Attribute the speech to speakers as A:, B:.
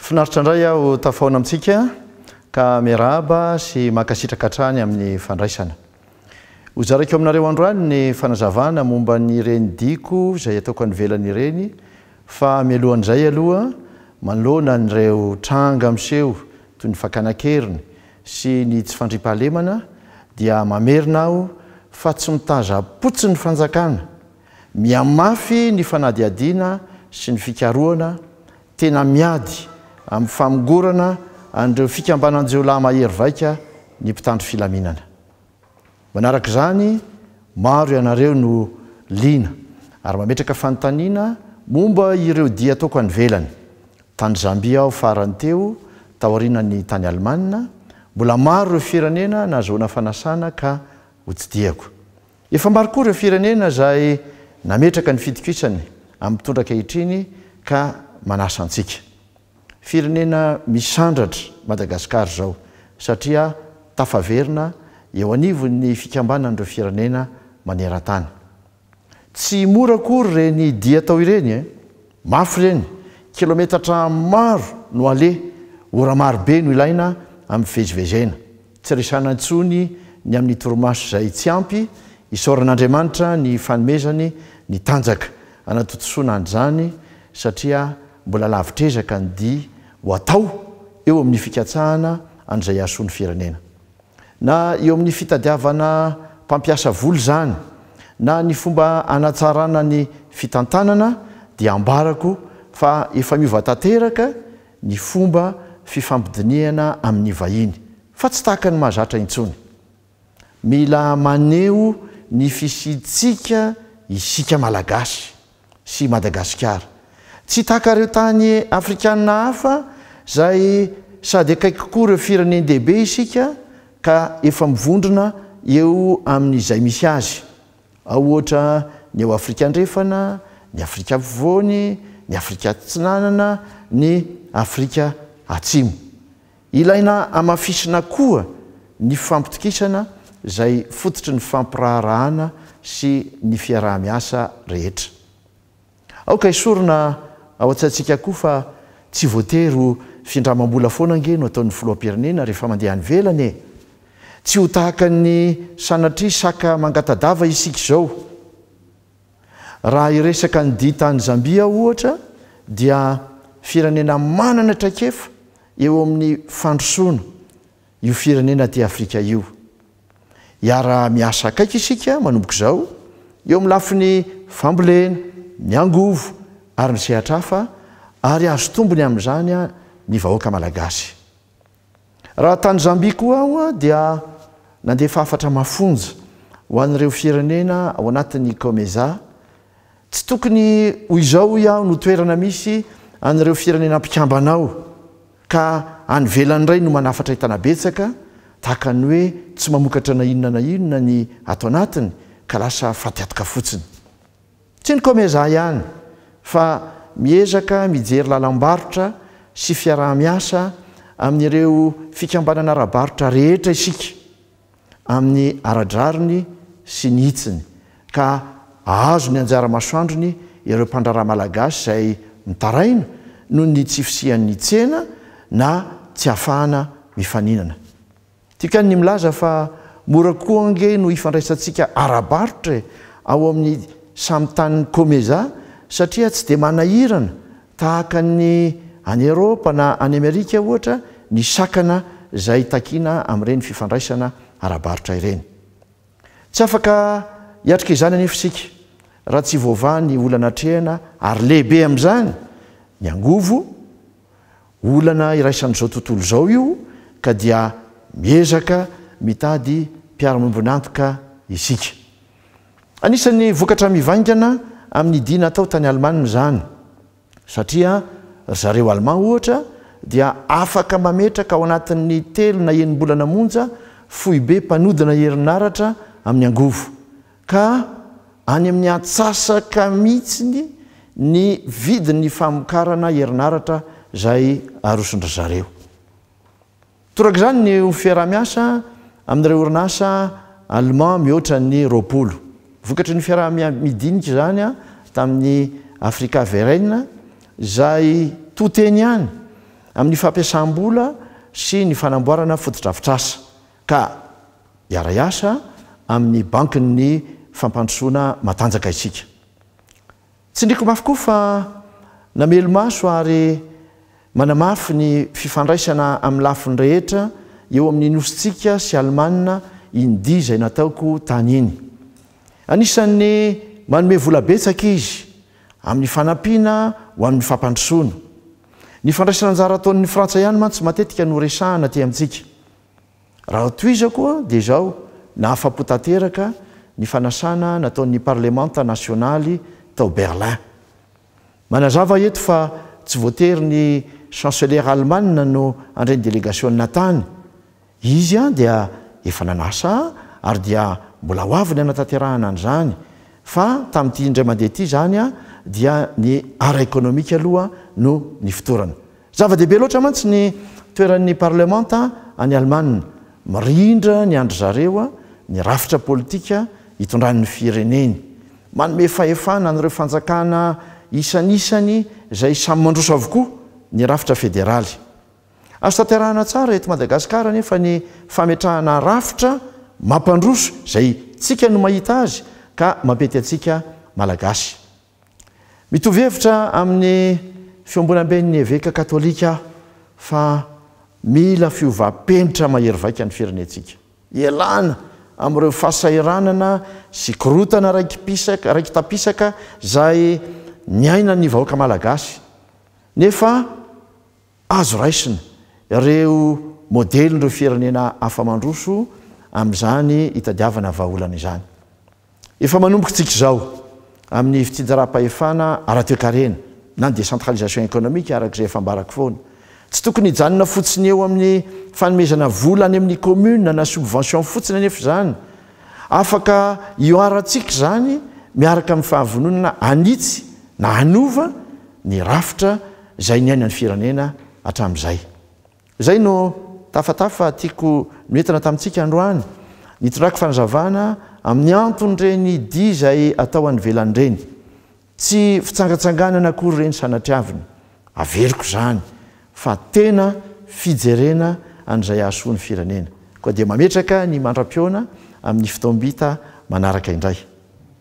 A: Finaritra indray aho tafaona amintsika ka miarahaba sy mankasitraka hatrany amin'ny fandraisana. Hozaraiko aminareo androany ny fanazavana momba ny ireny diko izay ataoko any velany ireny fa mialohan'izay aloha manoloana an'ireo tranga miseho toy ny fakana an-keriny sy ny tsy fandriampahalemana dia mamerina aho fa tsy mitazam-potsiny ny fanjakana, mihamafy ny fanadihadiana sy ny fikarohana, tena miady amin'ny famongorana an'ireo fikambanan-jiolahy mahery vaika ny mpitandro filaminana. Manaraka izany, maro ianareo no liana ary mametraka fanontaniana momba ireo dia ataoko any ivelany. Tany Zambia aho farany teo, taorianan'ny tany Alemana. Mbola maro ireo firenena nahazoana fanasana ka hotsidihako. Efa maro koa ireo firenena izay nametraka ny fitokisany amin'ny mpitondra ankehitriny ka manasa antsika. Firenena misandratra Madagascar zao satria tafaverina eo anivon'ny fikambanan'ireo firenena manerantany. Tsy mora akory reny dia atao ireny e! Mafy ireny, kilometatra maro no aleha, ora maro be no ilaina amin'ny fivezivezena. Tsy resahana intsony ny amin'ny torimaso izay tsy ampy, isaoran'Andriamanitra ny fanomezany ny tanjaka hanatontosoana an'izany satria mbola lavitr'ezaka ny dia ho atao eo amin'ny fikatsahana an'izay hahasoa ny firenena. Na eo amin'ny fitadiavana mpampiasa vola izany na ny fomba hanatsarana ny fitantanana dia ambarako fa efa miova tanteraka ny fomba fifampidinihana amin'ny vahiny, fa tsy tahaka ny mahazatra intsony. Mila maneho ny fisiantsika isika Malagasy sy Madagasikara, tsy tahaka ireo tany afrikana hafa izay sady akaiky kokoa ireo firenen-dehibe isika ka efa mivondrona eo amin'izay misy azy, Ao ohatra ny ao Afrika Andrefana, ny Afrika Afovoany, ny Afrika Atsinanana, ny Afrika Atsimo. Ilaina hamafisina koa ny fampitokisana izay fototry ny fampiraharahana sy ny fiaraha-miasa rehetra. Aoka hesorina ao an-tsaintsika koa fa tsy voatery ho findramam-bola foana ange no ataon'ny filoham-pirenena rehefa mandeha any ivelany e! Tsy ho tahaka ny sanatria saka mangata-dava isika izao. Raha hiresaka an'ity tany Zambia aho ohatra dia firenena manana traikefa eo amin'ny fandrosoana io firenena aty Afrika io. Hiara-miasa akaiky isika manomboka izao, eo amin'ny lafiny fambolena, ny angovo ary ny sehatra hafa ary hahazo tombony amin'izany ny vahoaka malagasy. Raha tany Zambia koa aho dia nandefa hafatra mafonja ho an'ireo firenena ao anatin'ny Comesa. Tsy tokony ho izao hoy aho no toerana misy an'ireo firenena mpikambana ao. Ka any ivelany indray no manafatra entana betsaka, tahaka ny hoe tsy mamokatra na inona na inona ny ato anatiny ka lasa fatiatoka fotsiny. Tsy ny Comesa ihany fa miezaka mijery lalam-barotra sy fiaraha-miasa amin'ireo fikambanana ara-barotra rehetra isika. amin'ny ara-drariny sy ny hitsiny ka hahazo ny anjara masoandrony ireo mpandraharaha malagasy izay mitaraina noho ny tsy fisian'ny tsena na tsy ahafahana mifaninana. Tikan ny milaza fa mora koa ange no ifandraisantsika ara-barotra e ao amin'ny samy tanin'i Comeza satria tsy dia manahirana Tahaka ny any Eropa na any Amerika, ohatra, ny sakana izay takiana amin'ireny fifandraisana ara-barotra ireny. Tsy afaka hiatrika izany anefa isika, raha tsy voavaha ny olana atrehina, ary lehibe amin'izany ny angovo, olana iraisan'izao tontolo izao io, ka dia miezaka mitady mpiara-miombon'antoka isika. Anisan'ny vokatra mivaingana amin'ny dihy natao tany Alemana izany, satria ry zareo Alemà, ohatra, dia afaka mametraka ao anatin'ny telo na enim-bolana monja foibe mpanodina herinaratra amin'ny angovo, ka any amin'ny antsasaka mihitsiny ny vidin'ny famokarana herinaratra izay aroson-dry zareo. Toraka izany ny ho fiaraha-miasa amin'ireo orinasa Allemand mihoatra ny roapolo. Vokatry ny fiaraha-midinika izany tamin'ny Africa Verein, izay to-teny ihany amin'ny fampiasam-bola sy ny fanamboarana fotodrafitrasa, ka hiara-hiasa amin'ny Bankin'ny Fampandrosoana Matanjaka isika. Tsindriko mafy koa fa namelo-maso ary manamafy ny fifandraisana amin'ny lafiny rehetra eo amin'ny Nosintsika sy Alemana iny dia izay nataoko tany iny. Anisan'ny manome vola betsaka izy amin'ny fanampiana ho amin'ny fampandrosoana. Ny fandraisan'anjara ataon'ny Frantsa ihany mantsy matetika no resahana aty amintsika. Raha tohizako dia izao, nahafa-po tanteraka ny fanasana nataon'ny Parlemanta nasionaly tao Berlin. Manazava eto fa tsy voatery ny Chancelera Alemana no handray ny delegasionina tany. Izy dia efa nanasa ary dia mbola ho avy ny hanatanterahana an'izany. Fa tamin'ity indray mandeha ity izany dia ny ara-ekonomika aloha no nifotorana. Zava-dehibe loatra mantsy ny toeran'ny parlemanta any Alemana. Mirindra ny an-dry zareo ny rafitra politika itondran'ny fireneny. Manome fahefana an'ireo fanjakana isanisany izay samy mandroso avokoa ny rafitra federaly. Azo tanterahana tsara eto Madagasikara anefa ny fametrahana rafitra mampandroso izay tsika no mahita azy ka mampety antsika Malagasy. Mitovy hevitra amin'ny Fiombonamben'ny Eveka Katolika aho fa mila fiovam-penitra mahery vaika ny firenentsika. Ialana amin'ireo fahasahiranana sy korontana raiki-pisaka, raiki-tapisaka izay niainan'ny vahoaka malagasy, nefa. Azo raisina ireo modelin'ireo firenena hafa mandroso amin'izany hitadiavana vahaolana izany. Efa manomboka isika izao amin'ny fitsinjaram-pahefana ara-toekarena na ny décentralisation économique araka izay efa ambarako foana. Tsy tokony hijanona fotsiny eo amin'ny fanomezana vola any amin'ny commune na subvention fotsiny anefa izany. Afaka ihoarantsika izany miaraka amin'ny fahavononana hanitsy na hanova ny rafitra izay niainan'ny firenena hatramin'izay. Izay no tafatafa tiako noentina tamintsika androany. Nitondrako fanazavana amin'ny anton'ireny dihy izay atao any ivelany ireny. Tsy fitsangantsanganana akory ireny sanatriavina. Averiko izany fa tena fijerena an'izay hahasoa ny firenena. Koa dia mametraka ny mandra-pihaona amin'ny fotoam-bita manaraka indray.